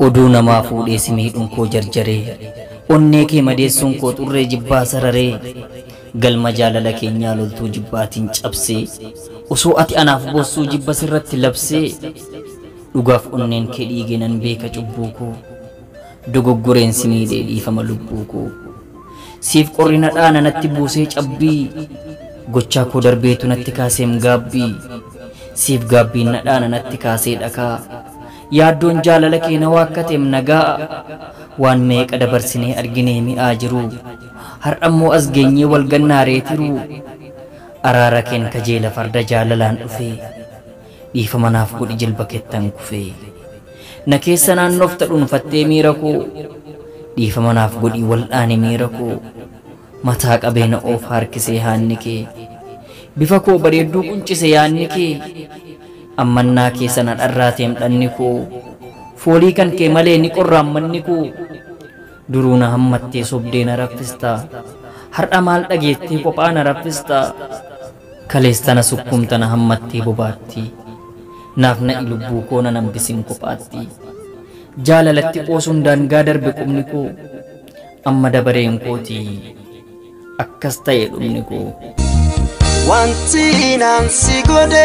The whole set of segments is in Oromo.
Oduu namaa fuudhee si miidhuun koo jarjaree Onnee kee madeessuun koo xurree jibbaa sararee Galma jaalala keenyaa loltuu jibbaatiin cabsee Osoo ati anaaf boossuu jibba sirratti labsee Dhugaaf onneen kee dhiige nan beeka cubbuu koo Dogoggoreen si miidhee dhiifama lubbuu koo Siif qorri na dhaana natti buusee cabbii Gochaa koo darbeetu natti kaaseem gaabbii Siif gaabbiin na dhaana natti kaasee dhakaa Yaaddoon jaalala kee na waakkateem na gaa'a Waan meeqa dabarsinee arginee mi'aa jiruu Har'ammoo as geenyee wal gannaa ree tiruu Araara keen kajeela farda jaalalaan dhufee Dhiifama naaf godhi jilba kettan kufee Na keessa naannofta dhunfattee miira koo Dhiifama naaf godhi wal'aani miira koo Mataa qabee na oofa harkisee haanni kee Bifa koo bareedduu quncise yaanni kee Ammannaa keessa na dharraateem dhanni koo Foolii kan kee malee ni qorraam manni koo Duruu na hammattee sobdee na raffista Har'a maal dhageettee kophaa na raffista Kalees tana sukkuumta na hammattee bobaatti Naaf na'i lubbuu koo nan hambisin kophaatti Jaalalatti qoosuun daangaa darbe qubni koo Amma dabareen kooti akkas ta'e dhumni koo. Wanti naan si godhe.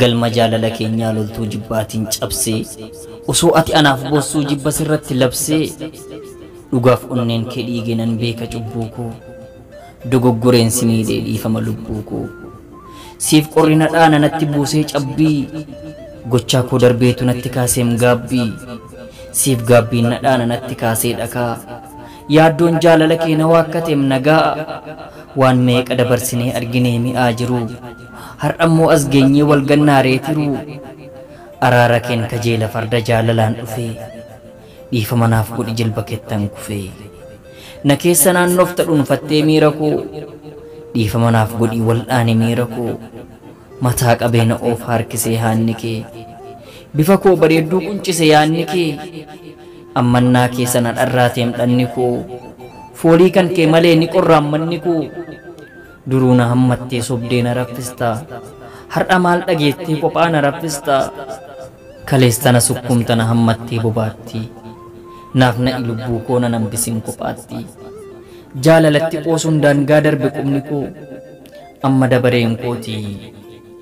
Galma jaalala keenyaa loltuu jibbaatiin cabsee Osoo ati anaaf boossuu jibba sirratti labsee Dhugaaf onneen kee dhiige nan beeka cubbuu koo Dogoggoreen si miidhee dhiifama lubbuu koo Siif qorri na dhaana natti buusee cabbii Gochaa koo darbeetu natti kaaseem gaabbii Siif gaabbiin na dhaana natti kaasee dhakaa Yaaddoon jaalala kee na waakkateem nagaa Waan meeqa dabarsinee arginee mi'aa jiruu Har'ammoo as geenyee wal gannaa ree tiruu? Araara keen kajeela farda jaalalaan dhufee. Dhiifama naaf godhi jilba kettan kufee. Na keessa naannofta dhunfattee miira koo. Dhiifama naaf godhii wal'aani miira koo. Mataa qabee na oofa harkisee haanni kee. Bifa koo bareedduu quncise yaanni kee. Ammannaa keessa na dharraateem dhanni koo. Foolii kan kee malee ni qorraam manni koo. Duruu na hammattee sobdee na raffistaa Har'a maal dhageettee qophaa na raffistaa Kaleessa na sukkuumta na hammattee bobaattii Naaf na'i lubbuu koo nan hambisin kophaattii Jaalalatti qoosuun daangaa darbe qubni koo Amma dabareen kooti